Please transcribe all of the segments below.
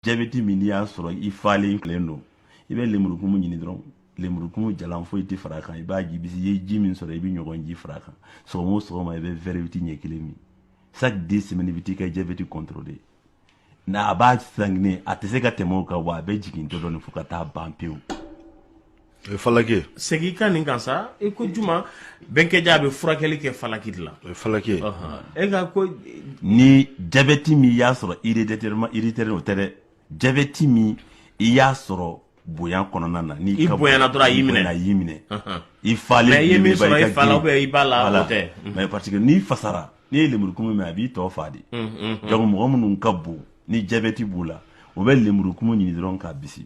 jabɛti min n'i y'a sɔrɔ i falen don i bɛ lemurukumu ɲini dɔrɔn lemurukumu jalan foyi tɛ fara kan i b'a bisi i ye ji min sɔrɔ i bɛ ɲɔgɔn ji fara kan sɔgɔma o sɔgɔma i bɛ verre huit ɲɛ kelen min chaque dix semaines i bɛ t'i ka jabɛti contrôler n'a a b'a sanginen a tɛ se ka tɛmɛ o kan wa a bɛ jigin dɔɔni dɔɔni fo ka taa ban pewu falaki segin i ka nin kan sa i ko juma bɛnkɛja a bɛ furakɛli kɛ falaki de la falaki e ka ko ni jabɛti min y'a sɔrɔ héréditairement héréditaire o tɛ dɛ jabɛti min i y'a sɔrɔ bonya kɔnɔna na ni i bonyana dɔrɔn a y'i minɛ a y'i minɛ i falen i ye min sɔrɔ i fa la ou bien i ba la o tɛ min parce que n'i fasara n'i ye lemurukumu min a b'i tɔ fa de donc mɔgɔ minnu ka bon ni jabɛti b'u la u bɛ lemurukumu ɲini dɔrɔn k'a bisi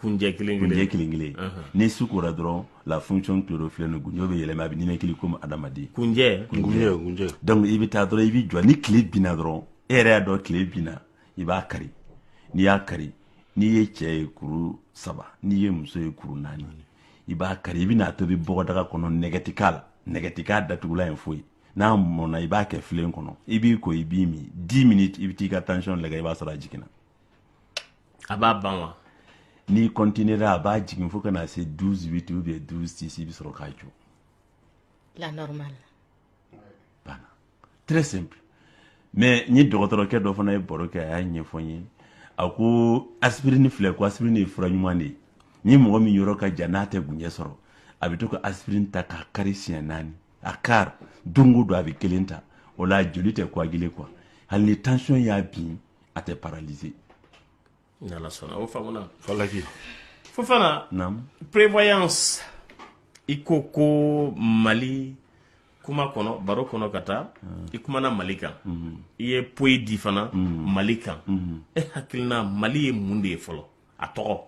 kunjɛ kelen kelen kunjɛ kelen kelen ni su kora dɔrɔn la fonction chlorophyllienne kunjɛ bɛ yɛlɛma a bɛ ninakili komi adamaden kunjɛ kunjɛ kunjɛ donc i bɛ taa dɔrɔn i bɛ jɔ ni tile binna dɔrɔn e yɛrɛ y'a dɔn tile binna i b'a kari n'i y'a kari n'i ye cɛ ye kuru saba n'i ye muso ye kuru naani i b'a kari i bɛna a tobi bɔgɔdaga kɔnɔ nɛgɛ tɛ k'a la nɛgɛ tɛ k'a datugulan ye foyi n'a mɔna i b'a kɛ filen kɔnɔ i b'i ko i b'i min dix minutes i bɛ t'i ka tension lagɛ i b'a sɔrɔ a jiginna a b'a ban wa n'i continuera a b'a jigin fo ka na se 12 8 ou bien 12 6 i bɛ sɔrɔ k'a jɔ la normale banna très simple mais n ye dɔgɔtɔrɔkɛ dɔ fana ye baro kɛ a y'a ɲɛfɔ n ye a ko aspirine filɛ ko aspirine ye fura ɲuman de ye ni mɔgɔ min yɔrɔ ka jan n'a tɛ kunjɛ sɔrɔ a bɛ to ka aspirine ta k'a kari siɲɛ naani a kari don o don a bɛ kelen ta o la joli tɛ coagule quoi hali ni tension y'a bin a tɛ paraliser ni Ala sɔnna o faamuna falaki Fofana naamu prévoyance i ko ko Mali kuma kɔnɔ baro kɔnɔ ka taa hmm. i kumana Mali kan hmm. i ye poyi di fana hmm. Mali kan e hakilina Mali ye mun de ye fɔlɔ a tɔgɔ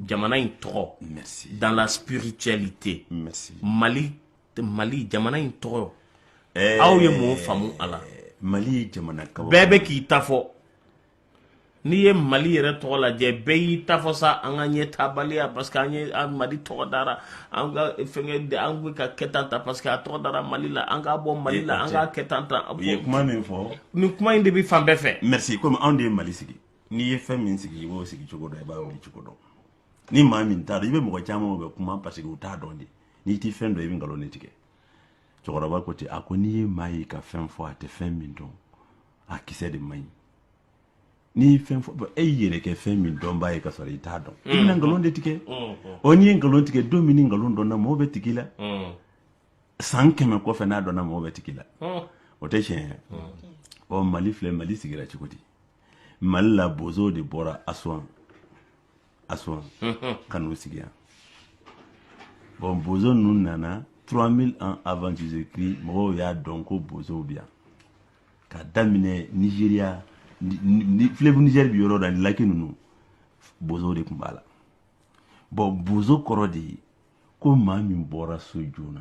jamana in tɔgɔ hmm. dans la spiritualité hmm. mali mali jamana in tɔgɔ Eh, aw ye mun faamu a la mali ye jamana kaba bɛɛ bɛ k'i ta fɔ n'i ye mali yɛrɛ tɔgɔ lajɛ bɛɛ y'i ta fɔ sa an ka ɲɛtaabaliya parce que an ye an mali tɔgɔ dara an ka fɛnkɛ de- an bɛ ka kɛ tan ta parce que a tɔgɔ dara mali la an k'a bɔ mali la an k'a kɛ tan ta u ye kuma min fɔ nin kuma in de bɛ fan bɛɛ fɛ merci komi anw de ye mali sigi n'i ye fɛn min sigi i b'o sigi cogo dɔn i b'a wuli cogo dɔn ni maa min t'a dɔn i bɛ mɔgɔ caman bɛ kuma parce que u t'a dɔn de n'i tɛ fɛn dɔn i bɛ nkalon de tigɛ cɛkɔrɔba ko ten a ko n'i ye maa ye ka fɛn fɔ a tɛ fɛn min dɔn a kisɛ de man ɲi n'i ye fɛn fɔ e y'i yɛrɛ kɛ fɛn min dɔnbaa ye ka sɔrɔ i t'a dɔn i bɛna mm. nkalon de tigɛ mm, mm. ɔ n'i ye nkalon tigɛ don min ni nkalon dɔnna mɔgɔw bɛ tig'i la san kɛmɛ kɔfɛ n'a dɔnna mɔgɔw bɛ tig'i la o tɛ tiɲɛ ye ɔ mali filɛ mali sigira cogo di mali la bozow de bɔra aswan aswan ka n'u sigi yan bon bozo ninnu nana 3000 ans avant jesus christ mɔgɔw y'a dɔn ko bozow bi yan ka daminɛ nigeria fleuve niger bi yɔrɔ da ni laki ninnu bozow de tun b'a la bon bozo kɔrɔ de ye ko maa min bɔra so joona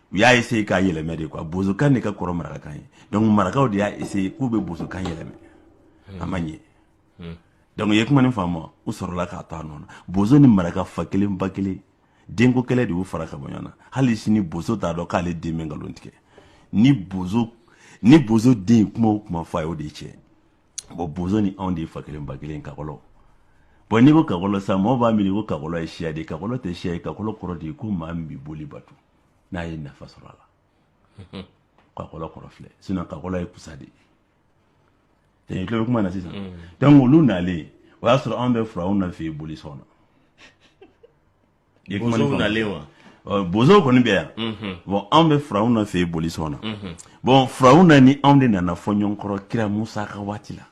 u y'a essaye k'a yɛlɛmɛ de quoi bozokan de ka kɔrɔ marakakan ye donc marakaw de y'a essaye k'u bɛ bozokan yɛlɛmɛ a ma ɲɛ hmm. donc ye kuma nin faamu u sɔrɔla k'a to a nɔ na bozo ni maraka fa kelen ba kelen denko kɛlɛ de y'u fara ka bɔ ɲɔgɔn na hali sini bozo t'a dɔn k'ale den bɛ nkalon tigɛ ni bozo ni bozo den kuma o kuma fɔ a y'o de tiɲɛ bon bozo ni anw de ye fa kelen ba kelen kakɔlɔ bon n'i ko kakɔlɔ sa mɔgɔw b'a miiri ko kakɔlɔ ye siya de ye kakɔlɔ tɛ siya ye kakɔlɔ kɔrɔ de ye ko maa min bi boli bato n'a ye nafa sɔrɔ a la kakɔlɔ kɔrɔ filɛ sinon kakɔlɔ ye kusa de ye tulo bɛ kuma na sisan donc olu nalen o y'a sɔrɔ anw bɛ furawna fɛ boli sɔn na bozow nalen wa bozow kɔni bɛ yan bon anw bɛ furawna fɛ boli sɔn na bon furawna ni anw de nana fɔ ɲɔgɔn kɔrɔ kira musa ka waati la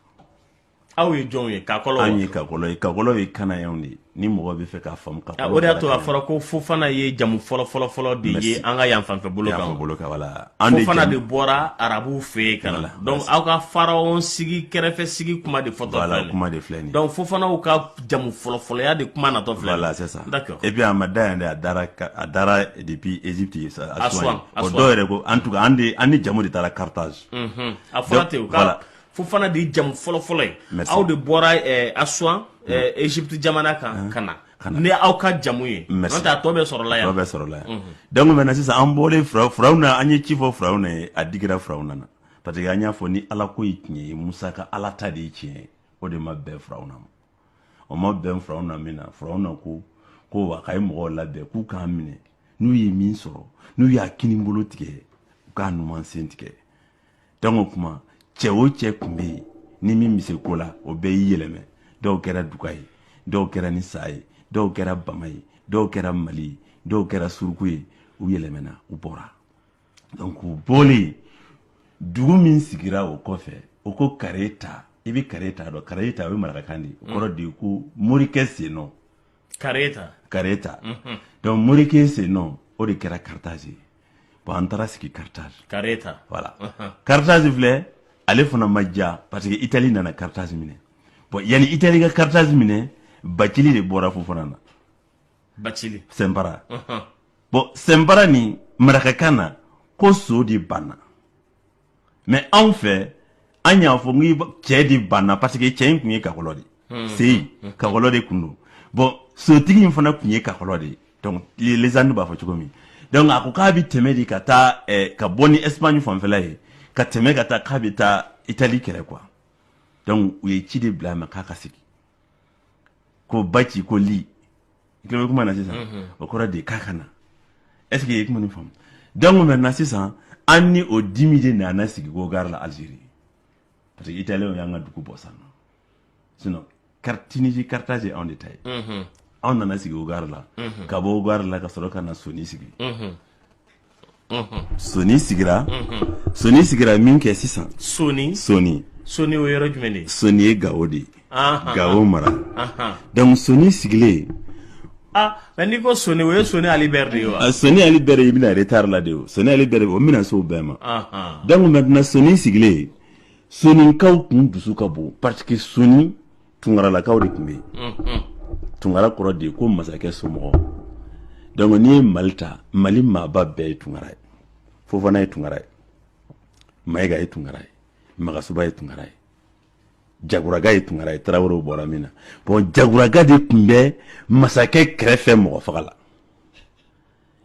aw ye jɔnw ye kakɔlɔ an ye kakɔlɔ ye kakɔlɔ ye kanayanw de ye ni mɔgɔ bɛ fɛ k'a faamu kakɔlɔ ah, o de y'a to a fɔra ko fofana ye jamu fɔlɔ fɔlɔ fɔlɔ de ye an ka yan fanfɛ bolo kan bolo kan voilà an de fofana de bɔra arabuw fɛ yen ka na donc aw ka pharaon sigi kɛrɛfɛ sigi kuma de fɔtɔ filɛ kuma de filɛ nin donc fofanaw ka jamu fɔlɔ fɔlɔya de kuma natɔ filɛ voilà c'est ça d'accord et puis a ma da yan dɛ a dara a dara depuis Egypte ye sa Asuwan o dɔw yɛrɛ ko en tout cas an de an ni jamu de taara Carthage unhun a fɔra ten u ka fofana de ye jamu fɔlɔfɔlɔ ye aw de bɔra eh, asuan eh, mm. egypte jamana kan mm. ka na ni aw ka jamu ye n'o tɛ a tɔ bɛɛ sɔrɔla yan tɔ bɛɛ sɔrɔla yan mm-hmm. donc maintenant sisan an bɔlen furaw furawna an ye ci fɔ furawna ye a digira furawna na parce que an y'a fɔ ni ala ko ye tiɲɛ ye musa ka ala ta de ye tiɲɛ ye o de ma bɛn furawna ma o ma bɛn furawna min na furawna ko ko wa k'a ye mɔgɔw labɛn k'u k'an minɛ n'u ye min sɔrɔ n'u y'a kinibolo tigɛ u k'a numan sen tigɛ donc o kuma cɛ o cɛ tun bɛ yen ni min bɛ se ko la o bɛɛ y'i yɛlɛmɛ dɔw kɛra duga ye dɔw kɛra ni sa ye dɔw kɛra bama ye dɔw kɛra mali ye dɔw kɛra suruku ye u yɛlɛmɛna u bɔra donc u bɔlen dugu min sigira o kɔfɛ o ko kareta i bɛ kareta dɔn kareta o ye marakakan de ye o kɔrɔ de ye ko morikɛ sennɔ kareta kareta mhm. donc morikɛ sennɔ o de kɛra carthage ye bon an taara sigi carthage kareta voilà mhm. carthage filɛ ale fana ma ja parce que itali nana carthage minɛ bon yanni itali ka carthage minɛ bacili de bɔra fofana na bacili sɛnpara mhm. bon sɛnpara ni marakakan na ko so de banna mais anw fɛ an y'a fɔ n cɛ de banna parce que cɛ in tun ye kakɔlɔ de hmm. seyi hmm. kakɔlɔ de tun don bon sotigi in fana tun ye kakɔlɔ de donc légende b'a fɔ cogo min donc a ko k'a bɛ tɛmɛ de ka taa eh, ka bɔ ni espagne fanfɛla ye ka tɛmɛ ka taa k'a bɛ taa itali kɛlɛ quoi donc u ye ci de bila a ma k'a ka sigi ko baci ko li i tulo bɛ kuma na sisan o kɔrɔ de k'a ka na est ce que i kuma nin faamu donc maintenant sisan an ni o dimi de nana sigi ko ouargla algérie parce que italien y'an ka dugu bɔsi an na sinon tunisie carthage anw de ta ye anw nana sigi ouargla ka bɔ ouargla ka sɔrɔ ka na soni sigi soni sigira soni sigira minkɛ sisan soni soni soni o yɔrɔ jumɛn de soni ye gawo de ye gawo mara donc soni sigilen Ah, mais n'i ko soni o ye soni ali bɛri de ye wa ah, soni ali bɛri i bɛna retard la dɛ o soni ali bɛri o bɛna se o bɛɛ ma donc maintenant soni sigilen soninkaw tun dusu ka bon parce que soni tunkaralakaw de tun bɛ yen tunkara kɔrɔ de ko masakɛ somɔgɔ donc n'i ye mali ta mali maaba bɛɛ ye tunkara ye fofana ye tunkara ye mayiga ye tunkara ye magasuba ye tunkara ye jaguraga ye tunkara ye tarawelew bɔra min na bon jaguraga de tun bɛ masakɛ kɛrɛfɛ mɔgɔ fagala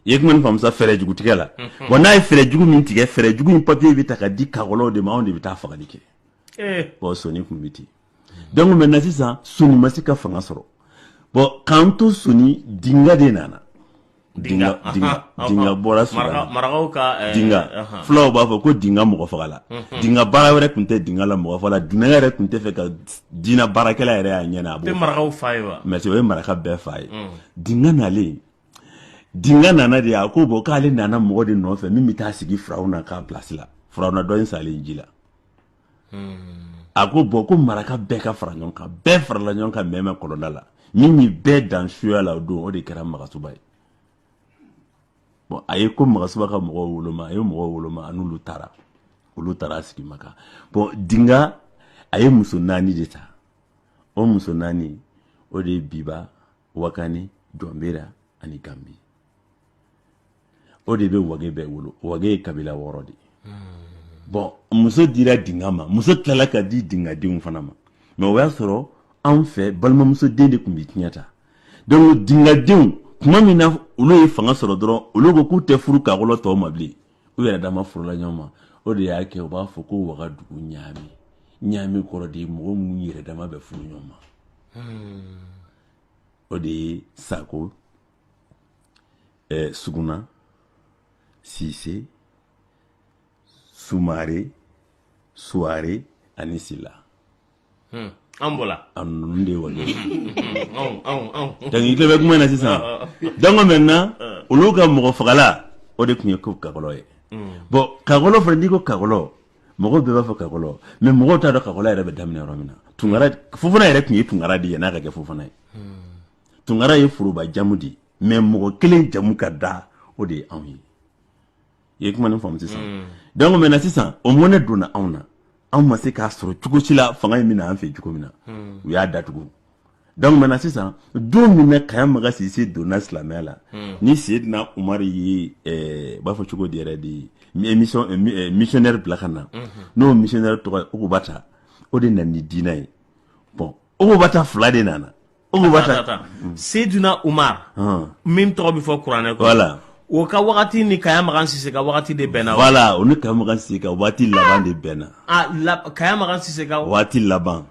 i ye kuma nin faamu sa fɛɛrɛ jugu tigɛla mhm. bon n'a ye fɛɛrɛ jugu min tigɛ fɛɛrɛ jugu in papiye bɛ ta ka di kakɔlɔw de ma anw de bɛ taa fagali kɛ eh. bon soni tun bɛ ten donc maintenant sisan soni ma se ka fanga sɔrɔ bon k'an to soni dinga de nana dinga bɔra dinga fulaw b'a fɔ ko dinga mɔgɔ fagala dinga baara wɛrɛ tun tɛ dinga la mɔgɔ la dinɛ yɛrɛ tun t'a fɛ ka dinɛ baarakɛla yɛrɛ y'a ɲɛ a mais o ye maraka bɛɛ fa ye dinga nalen dinga nana de a ko bon k'ale nana mɔgɔ de nɔfɛ min bɛ taa sigi farawuna ka place la farawuna in salen ji la hmm. a ko bon ko maraka bɛɛ ka fara ɲɔgɔn kan bɛɛ farala ɲɔgɔn kan mɛmɛ kɔlɔnda la min ye bɛɛ dan suya la o don o de kɛra magasuba ye bon a ye ko magasuba ka mɔgɔw woloma a ye mɔgɔw woloma a n'olu taara olu taara a sigi maka bon dinga a ye muso naani de ta o muso naani o de ye biba wakani jɔnbera ani gambi o de bɛ wage bɛɛ wolo wage ye kabila wɔɔrɔ de ye bon muso dira dinga ma muso tilala ka di dingadenw fana ma mais o y'a sɔrɔ anw fɛ balimamuso den de tun bɛ tiɲɛ ta donc dingadenw tuma min na olu ye fanga sɔrɔ dɔrɔn olu ko k'u tɛ furu kakɔlɔ tɔw ma bilen u yɛrɛ dama furula ɲɔgɔn ma o de y'a kɛ u b'a fɔ ko wagadugu ɲaami ɲaami kɔrɔ de ye mɔgɔ minnu yɛrɛ dama bɛ furu ɲɔgɔn ma o de ye sako eh, Suguna Sise Sumare Suware ani Sila hmm. an bɔra a ninnu de ye wale dɔnku i tulo bɛ kuma na sisan dɔnku maintenant olu ka mɔgɔ fagala o de tun ye ko kakɔlɔ ye hmm. bɔn kakɔlɔ fana n'i ko kakɔlɔ mɔgɔw bɛɛ b'a fɔ kakɔlɔ mɛ mɔgɔw t'a dɔn kakɔlɔ yɛrɛ bɛ daminɛ yɔrɔ min na tunkara fofana yɛrɛ tun ye tunkara de ye n'a ka kɛ fofana ye hmm. tunkara ye foroba jamu de ye mɛ mɔgɔ kelen jamu ka da o de ye anw ye i ye kuma nin faamu sisan mm. donc maintenant sisan o mɔnɛ donna anw na anw ma se k'a sɔrɔ cogo si la fanga in bɛna an fɛ cogo min na mm. u y'a datugu donc maintenant sisan don min na kaya maga sise donna silamɛya la mm. ni seydina umari ye eh, b'a fɔ cogo di yɛrɛ de émission eh, eh, missionnaire bila ka na mm-hmm. n'o missionnaire tɔgɔ ye ukubata o de nana ni diinɛ ye bon Ukubata fila de nana o sedina umar min tɔgɔ bɛ fɔ kuranɛ ko la o ka wagati ni kaya makan sise ka waati de bɛnna wala o ni kaya makan sise ka waati laban de bɛnna kaya makan sise ka waati laban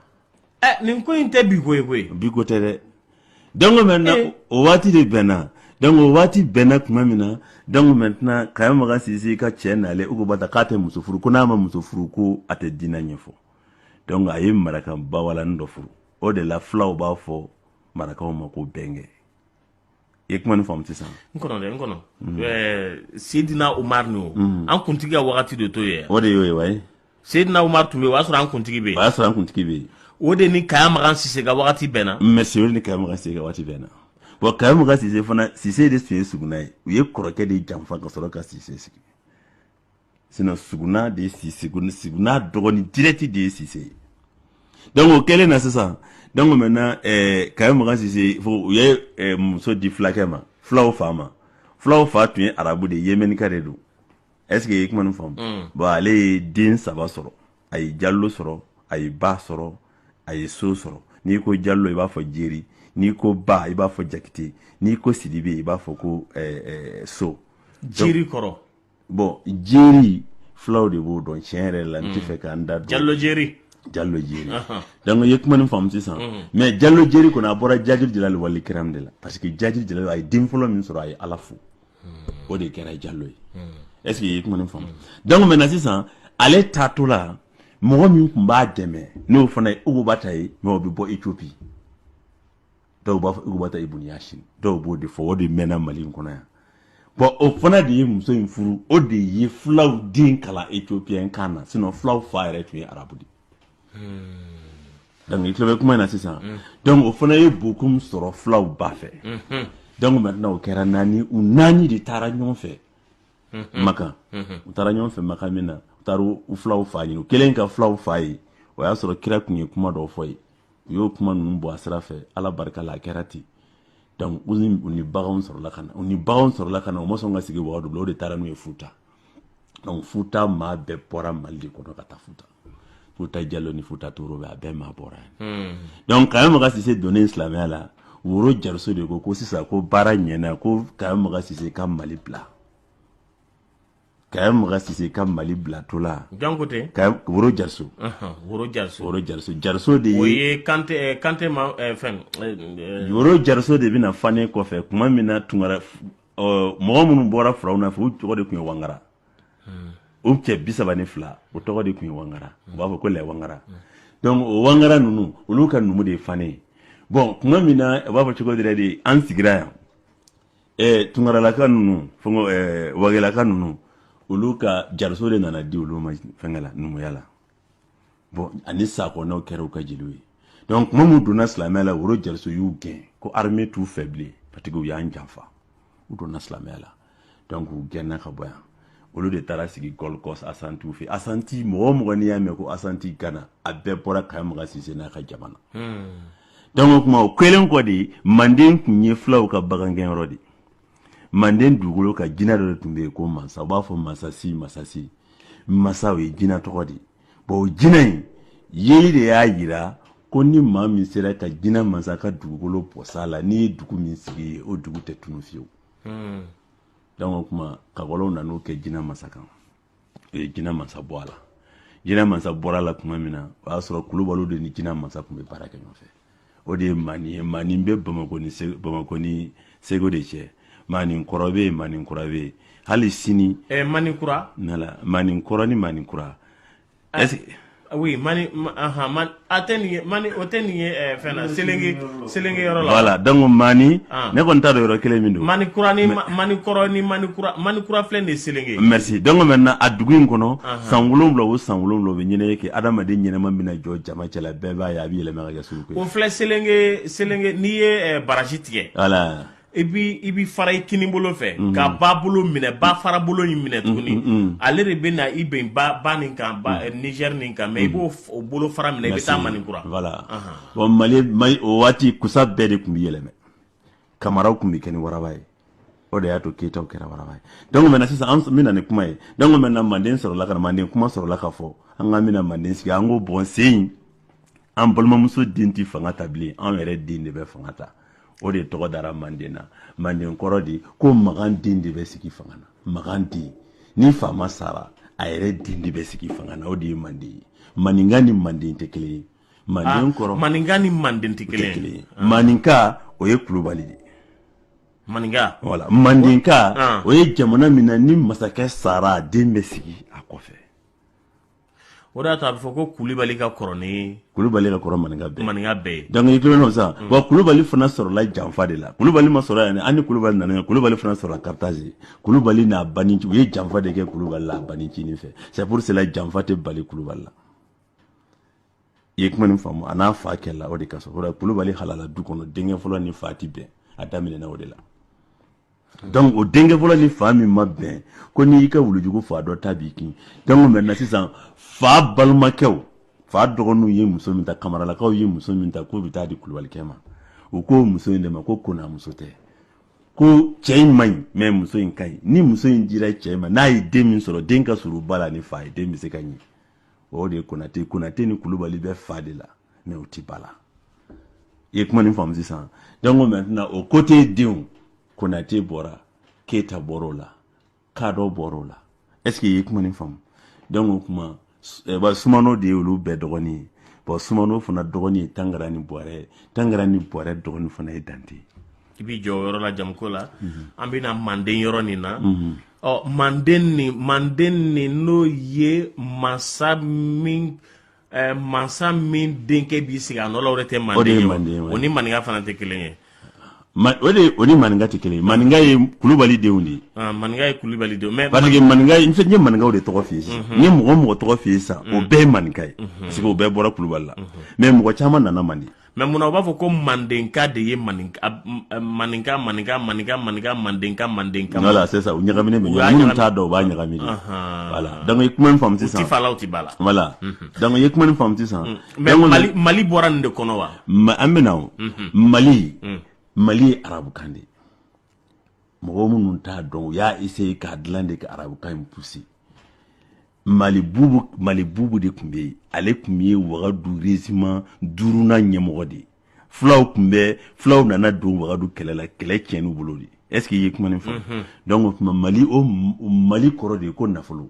ɛ nin ko in tɛ bi ko koyi bi ko tɛ dɛ dɔnku maintenant o waati de bɛnna dɔnku waati bɛnna tuma min na dɔnku maintenant kaya makan sise ka cɛ nalen ukubata k'a tɛ muso furu ko n'a ma muso furu ko a tɛ diinɛ ɲɛfɔ donc a ye maraka bawalani dɔ furu o de la fulaw b'a fɔ marakaw ma ko bɛnkɛ i ye kuma nin faamu sisan n kɔnɔ dɛ n kɔnɔ mm. eh, sedina umar ni o mm. an kuntigi ka wagati de tun ye o de y'o ye wa ye sedina umar tun bɛ yen o y'a sɔrɔ an kuntigi bɛ yen o y'a sɔrɔ an kuntigi bɛ yen o de ni kaya makan sise ka wagati bɛnna mɛ sebe ni kaya makan sise ka wagati bɛnna bɔn kaya makan sise fana sise de tun ye suguna ye u ye kɔrɔkɛ de janfa ka sɔrɔ ka sise sigi sinon suguna de ye sise suguna dɔgɔnin dirɛti de ye sise ye donc o kɛlen na sisan donc maintenant eh, kaya makan sise fo u ye eh, muso di fulakɛ ma fulaw fa ma fulaw fa tun ye arabu de ye yemenika de don est ce que i ye kuma nin faamu mm. bon ale ye den saba sɔrɔ a ye jallo sɔrɔ a ye ba sɔrɔ a ye so sɔrɔ n'i ko jallo i b'a fɔ jeri n'i ko ba i b'a fɔ jakite n'i ko sidibe i b'a fɔ ko eh, eh, so jeri kɔrɔ bɔn jeri fulaw de b'o dɔn tiɲɛ yɛrɛ la n tɛ fɛ k'an da jalo jeri jalo jeri dɔnku i ye kuma nin faamu sisan mɛ jalo jeri kɔnɔ a bɔra jaji jira wal ikram de la parce que jaji jira a ye den fɔlɔ min sɔrɔ a ye ala fo o de kɛra jalo ye ɛsike i ye kuma faamu dɔnku maintenant sisan ale taatɔ la mɔgɔ min tun b'a dɛmɛ n'o fana ye b'a ta ye mɛ o bɛ bɔ etiyopi dɔw b'a fɔ ubata ibun yasini dɔw b'o de fɔ o de mɛnna mali in kɔnɔ yan bɔn o fana de ye muso in furu o de ye fulaw den kalan ethiopien kan na sinɔn fulaw fa yɛrɛ tun ye arabu de donc i tulo bɛ kuma in na sisan hmm. donc o fana ye bokum sɔrɔ fulaw ba fɛ hmm. donc maintenant o kɛra naani u naani de taara ɲɔgɔn fɛ hmm. makan u taara ɲɔgɔn fɛ makan min na u taara u fulaw fa ɲini u kelen ka fulaw fa ye o y'a sɔrɔ kira tun ye kuma dɔw fɔ ye u y'o kuma ninnu bɔ a sira fɛ ala barika la a kɛra ten donc u ni u ni baganw sɔrɔla ka na u ni baganw sɔrɔla ka na u ma sɔn ka sigi wagadu bila o de taara n'u ye futa donc futa maa bɛɛ bɔra mali de kɔnɔ ka taa futa futa jalon ni futa toro bɛ a bɛɛ maa bɔra yan donc kaya maga sise donnen silamɛya la woro jariso de ko ko sisan ko baara ɲɛna ko kaya maga sise ka mali bila kaya maga sise ka mali bila o la jankote ka woro jariso woro jariso woro jariso jariso de ye o ye kante eh, kante ma eh, fɛn eh, woro jariso de bɛna fane kɔfɛ kuma min na tunkara mɔgɔ minnu bɔra furaw na fɛ u tɔgɔ de tun ye wangara hmm. o cɛ bi saba ni fila o tɔgɔ de tun ye wangara u b'a fɔ ko les wangara hmm. donc o wangara ninnu olu ka numu de ye fane ye bɔn kuma min na u b'a fɔ cogo dɛrɛ de an sigira yan ɛɛ tunkaralaka ninnu fɛngɛ ɛɛ wagelaka ninnu olu ka jariso de nana di olu ma fɛngɛ la numuya la bon ani sakɔnɔw kɛra u ka jeliw ye donc kuma min donna silamɛya la woro jariso y'u gɛn ko armée t'u fɛ bilen parce que u y'an janfa u donna silamɛya la donc u gɛnna ka bɔ yan olu de taara sigi gold coast asantiw fɛ asanti mɔgɔ o mɔgɔ n'i y'a mɛn ko asanti gana a bɛɛ bɔra kaya maga sise n'a ka jamana donc o tuma o kɛlen kɔ de manden tun ye fulaw ka bagangɛnyɔrɔ de manden dugukolo ka jinɛ dɔ de tun bɛ yen ko mansa u b'a fɔ masasi masasi masa o ye jinɛ tɔgɔ de bon o jinɛ in yeli de y'a jira ko ni maa min sera ka jinɛ mansa ka dugukolo bɔs'a la n'i ye dugu min sigi ye o dugu tɛ tunu fewu hmm. donc o tuma kakɔlɔw nan'u kɛ jinɛ mansa kan u ye jinɛ mansa bɔ a la jinɛ mansa bɔra la kuma min na o y'a sɔrɔ kulubaliw de ni jinɛ mansa tun bɛ baara kɛ ɲɔgɔn fɛ o de ye mani ye mani bɛ bamakɔ ni bamakɔ ni segu de cɛ mani kɔrɔ bɛ yen mani kura bɛ yen hali sini. ɛɛ mani kura. voilà mani kɔrɔ ni mani kura oui mani aha mani a tɛ nin ye mani o tɛ nin ye eh, fɛn na selenge selenge yɔrɔ la voilà donc mani ah. ne kɔni t'a dɔn yɔrɔ kelen min don mani kura ni mani kɔrɔ ni mani kura mani kura filɛ nin ye selenge merci donc maintenant a dugu in kɔnɔ san wolonwula o san wolonwula o bɛ ɲɛnajɛ kɛ adamaden ɲɛnama bɛna jɔ jama cɛla bɛɛ b'a ye a bɛ yɛlɛma ka kɛ suruku ye o filɛ selenge selenge n'i ye eh, barrage tigɛ voilà i bi i bi fara i kini bolo fɛ mm-hmm. ka ba bolo minɛ ba fara bolo in minɛ mm-hmm, tuguni mm-hmm. ale de bɛ na i bɛn ba ba nin kan ba eh, Niger nin kan mais i b'o o bolo fara minɛ i bɛ taa Maninkura voilà bon Mali Mali o waati kusa bɛɛ de tun bɛ yɛlɛma kamaraw tun bɛ kɛ ni waraba ye o de y'a to keyitaw kɛra waraba ye donc maintenant sisan an bɛna ni kuma ye donc maintenant manden sɔrɔla ka na manden kuma sɔrɔla ka fɔ an k'an bɛna manden sigi an ko bɔn sen in an balimamuso den tɛ fanga ta bilen an yɛrɛ den de bɛ fanga ta o de tɔgɔ dara manden na manden kɔrɔ de ko magan den de bɛ sigi fanga na magan den ni faama sara a yɛrɛ den de bɛ sigi fanga na o de ye manden ye maninka ni manden tɛ kelen ye manden ah, kɔrɔ maninka ni manden tɛ kelen ye ah. maninka o ye kulubali de ye maninka wala mandenka ah. o ye jamana min na ni masakɛ sara den bɛ sigi a kɔfɛ o de y'a to a bɛ fɔ ko kulubali ka kɔrɔ ni kulubali ka kɔrɔ maninka bɛɛ maninka bɛɛ ye dɔnkili kelen nɔ sisan wa kulubali fana sɔrɔla janfa de la kulubali ma sɔrɔ yan ani kulubali nana kulubali fana sɔrɔla karitazi kulubali n'a bani u ye janfa de kɛ kulubali la bani cini fɛ c'est pour cela janfa tɛ bali kulubali la i ye kuma nin faamu a n'a fa kɛlɛla o de ka sɔrɔ kulubali halala du kɔnɔ denkɛ fɔlɔ ni fa ti bɛn a daminɛna o de la donc o denkɛ fɔlɔ ni fa min ma bɛn ko n'i y'i ka wulujugu faga dɔ ta b'i kin donc maintenant sisan fa balimakɛw fa dɔgɔninw ye muso min ta kamaralakaw ye muso min ta k'o bɛ taa di kulubalikɛ ma u k'o muso in de ma ko kona muso tɛ ko cɛ in man ɲi mais muso in ka ɲi ni muso in dira cɛ in ma n'a ye den min sɔrɔ den ka surun ba la ni fa ye den bɛ se ka ɲɛ o de ye konate konate ni kulubali bɛ fa de la mais u ti ba la i ye kuma nin faamu sisan donc maintenant o kote denw konate bɔra keyita bɔr'o la kadɔ bɔr'o la est ce que i ye kuma nin faamu donc o kuma eh, ba sumano de ye olu bɛɛ dɔgɔnin ye bɔn sumano fana dɔgɔnin ye tangara ni bɔrɛ ye tangara ni bɔrɛ dɔgɔnin fana ye dante ye i b'i jɔ yɔrɔ la jamuko la an bɛna manden yɔrɔ nin na ɔ manden nin manden nin n'o ye mansa min eh, mansa min denkɛ b'i sigi a nɔ la o de tɛ manden ye o ni maninka fana tɛ kelen ye o de o ni maninka tɛ kelen ye maninka ye kulubali denw de ye ah, maninka ye kulubali denw mais parce que maninka n ye maninkaw de tɔgɔ f'i ye sisan n ye mɔgɔ mɔgɔ tɔgɔ f'i ye sisan o bɛɛ ye maninka ye parce que o bɛɛ bɔra kulubali la mais mɔgɔ caman nana manden mais munna u b'a fɔ ko mandenka de ye maninka maninka maninka maninka maninka mandenka mandenka wala c'est ça u ɲagaminen bɛ ɲɔgɔn minnu t'a dɔn u b'a ɲagami voilà donc i ye kuma nin faamu sisan u ti fa la u ti ba la voilà donc i ye kuma nin faamu sisan mais mali mali bɔra nin de kɔnɔ wa an bɛ na o mali mali ye arabukan de ye mɔgɔ minnu t'a dɔn u y'a essayer k'a dilan de ka arabukan in pousser mali bubu mali bubu de tun bɛ yen ale tun ye wagadu reziman duurunan ɲɛmɔgɔ de ye fulaw tun bɛ fulaw nana don wagadu kɛlɛ la kɛlɛ tiɲɛni bolo de est ce que i ye kuma nin faamu mhm. donc o tuma mali o mali kɔrɔ de ye ko nafolo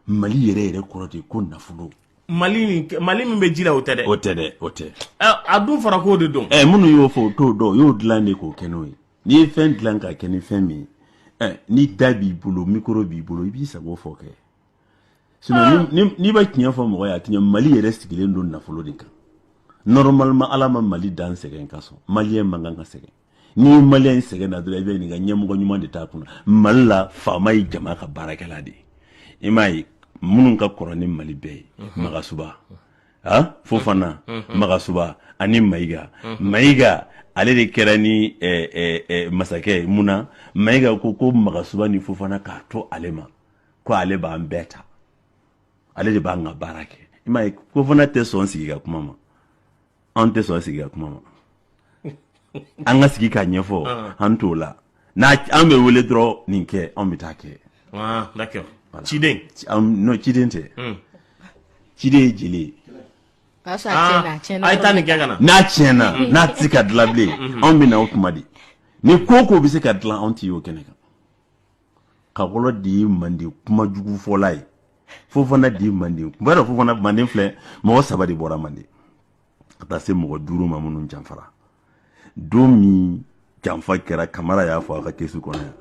mali yɛrɛ yɛrɛ kɔrɔ de ye ko nafolo mali mali min bɛ ji la o tɛ dɛ o tɛ dɛ o tɛ a dun fara k'o de dɔn ɛ eh, minnu y'o fɔ o t'o dɔn o y'o dilan de k'o kɛ n'o ye n'i ye fɛn dilan ka kɛ ni fɛn min ye eh, ni da b'i bolo mikoro b'i bolo i b'i sago fɔ kɛ ah. n'i bɛ tiɲɛ fɔ mɔgɔ ye a tiɲɛ mali yɛrɛ sigilen don nafolo de kan nɔrɔmalima ala ma mali dan sɛgɛn kosɔn maliyɛn man kan ka sɛgɛn n'i ye maliyɛn sɛgɛnna dɔrɔn i bɛ nin ka ɲɛmɔgɔ ɲuman de t'a kunna mali la faama ye jama ka baarakɛla de ye i m'a ye minnu ka kɔrɔ ni mali bɛɛ ye mhm. magasuba a fofana magasuba ani mayiga mayiga ale de kɛra ni masakɛ mun na mayiga ko ko magasuba ni fofana k'a to ale ma ko ale b'an bɛɛ ta ale de b'an ka baara kɛ i ma fofana tɛ sɔn sigi ka kuma ma an tɛ sɔn sigi ka kuma ma an ka sigi ka ɲɛfɔ ah. an t'o la n'a an bɛ wele dɔrɔn nin kɛ an bɛ taa kɛ ah, ciden non ciden tɛ hmm. ciden ye jeli ye ah, a ye taa nin kɛ ka na n'a tiɲɛna hmm. n'a tɛ se ka dilan bilen hmm. anw bɛ na o tuma de ni ko ko bɛ se ka dilan anw tɛ y'o kɛnɛ kan kakɔlɔ de ye manden kuma jugu fɔla ye fofana de ye manden n b'a dɔn fofana manden filɛ mɔgɔ saba de bɔra manden ka taa se mɔgɔ duuru ma minnu janfara don min janfa kɛra kamara y'a fɔ a ka kesi kɔnɔ yan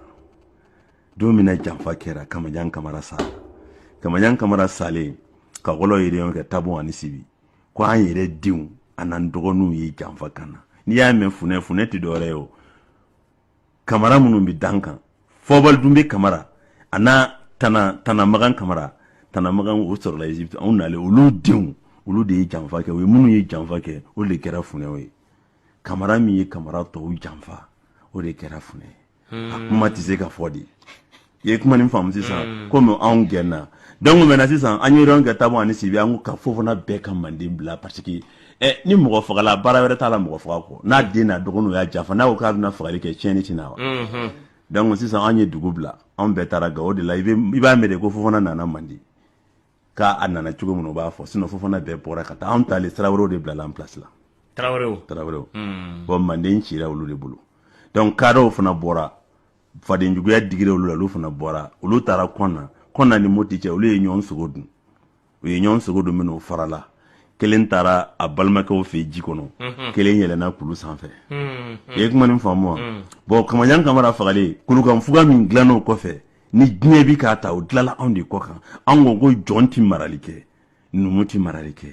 don min na janfa kɛra kamajan kamara sara kamajan kamara salen kakɔlɔ ye réunion kɛ tabon ani sibi ko an yɛrɛ denw an'an dɔgɔninw ye janfa k'an na n'i y'a mɛn funɛ funɛ tɛ dɔwɛrɛ ye o kamara minnu bɛ dan kan fɔbali dun bɛ kamara a n'a tana tana magan kamara tana magan o sɔrɔla egypte anw nalen olu denw olu de ye janfa kɛ o ye minnu ye janfa kɛ o de kɛra funɛw ye kamara min ye kamara tɔw janfa o de kɛra funɛ ye a kuma tɛ se ka fɔ dɛ i ye kuma nin faamu sisan komi anw gɛnna donc maintenant sisan an ye yɔrɔ kɛ tabon ani sibi an ko ka fofana bɛɛ ka manden bila parce que eh, ni mɔgɔ fagala baara wɛrɛ t'a la mɔgɔ faga kɔ n'a den n'a dɔgɔninw y'a janfa n'a ko k'a bɛna fagali kɛ tiɲɛni tɛ na wa donc sisan an ye dugu bila anw bɛɛ taara gawo de la i bɛ- i b'a mɛn de ko fofana nana manden k'a a nana cogo min u b'a fɔ sinon fofana bɛɛ bɔra ka taa anw taalen sira wɛrɛw de bilala an place la tarawelew tarawelew bon manden cira olu de bolo donc kadɔw fana bɔra fadenjuguya digira olu la olu fana bɔra olu taara kɔna kɔna ni moti cɛ olu ye ɲɔgɔn sogo dun u ye ɲɔgɔn sogo dun min'o farala kelen taara a balimakɛw fɛ ji kɔnɔ mhm. kelen yɛlɛna kulu sanfɛ mhm. i ye kuma ni faamu wa mhm. bɔn kamajan kamara fagalen kulukanfuga min dilanna o kɔfɛ ni diɲɛ bi k'a ta o dilanna anw de kɔ kan an ko ko jɔn ti marali kɛ numu ti marali kɛ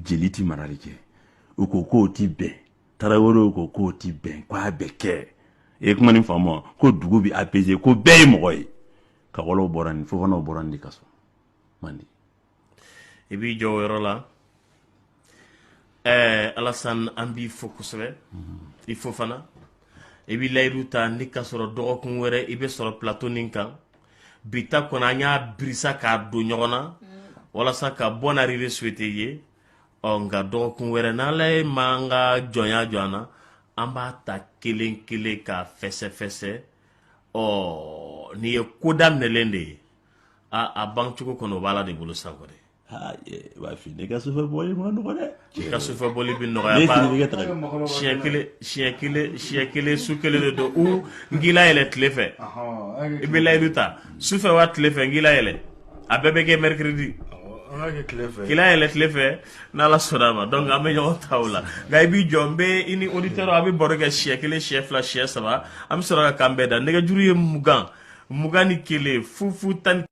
jeli ti marali kɛ u ko k'o ti bɛn tarawelew ko k'o ti bɛn ko a bɛ kɛ i ye kuma ni faamu ko dugu bɛ apaiser ko bɛɛ ye mɔgɔ ye kawalew bɔra nin fofanaw bɔra nin de ka so manden i b'i jɔ o yɔrɔ la ɛɛ alasan an b'i fo kosɛbɛ i fo fana i bɛ layidu ta ni ka sɔrɔ dɔgɔkun wɛrɛ i bɛ sɔrɔ plateau nin kan bi ta kɔnɔ an y'a birisa k'a don ɲɔgɔn na walasa ka bonne arrivée souhaiter i ye ɔ nka dɔgɔkun wɛrɛ n'ala ye m'an ka jɔnya jɔ an na an b'a ta kelen kelen k'a fɛsɛfɛsɛ ɔ nin ye ko daminɛlen de ye a a bancogo kɔni o b'ala de bolo sa kɔni b'a fi ne ka sufɛ bɔli man nɔgɔ dɛ i ka sufɛ bɔli bɛ nɔgɔya ba siɲɛ kelen siɲɛ kelen siɲɛ kelen su kelen de don u n k'i layɛlɛ tile fɛ i bɛ layidu ta sufɛ wa tile fɛ n k'i layɛlɛ a bɛɛ bɛ kɛ mercredi k'i layɛlɛ tile fɛ n'ala sɔnna a ma donc an bɛ ɲɔgɔn ta o la nka i b'i jɔ n bɛ i ni auditeur a bɛ baro kɛ siɲɛ kelen siɲɛ fila siɲɛ saba an bɛ sɔrɔ ka kanbɛn da nɛgɛjuru ye mugan mugan ni kelen fu fu tan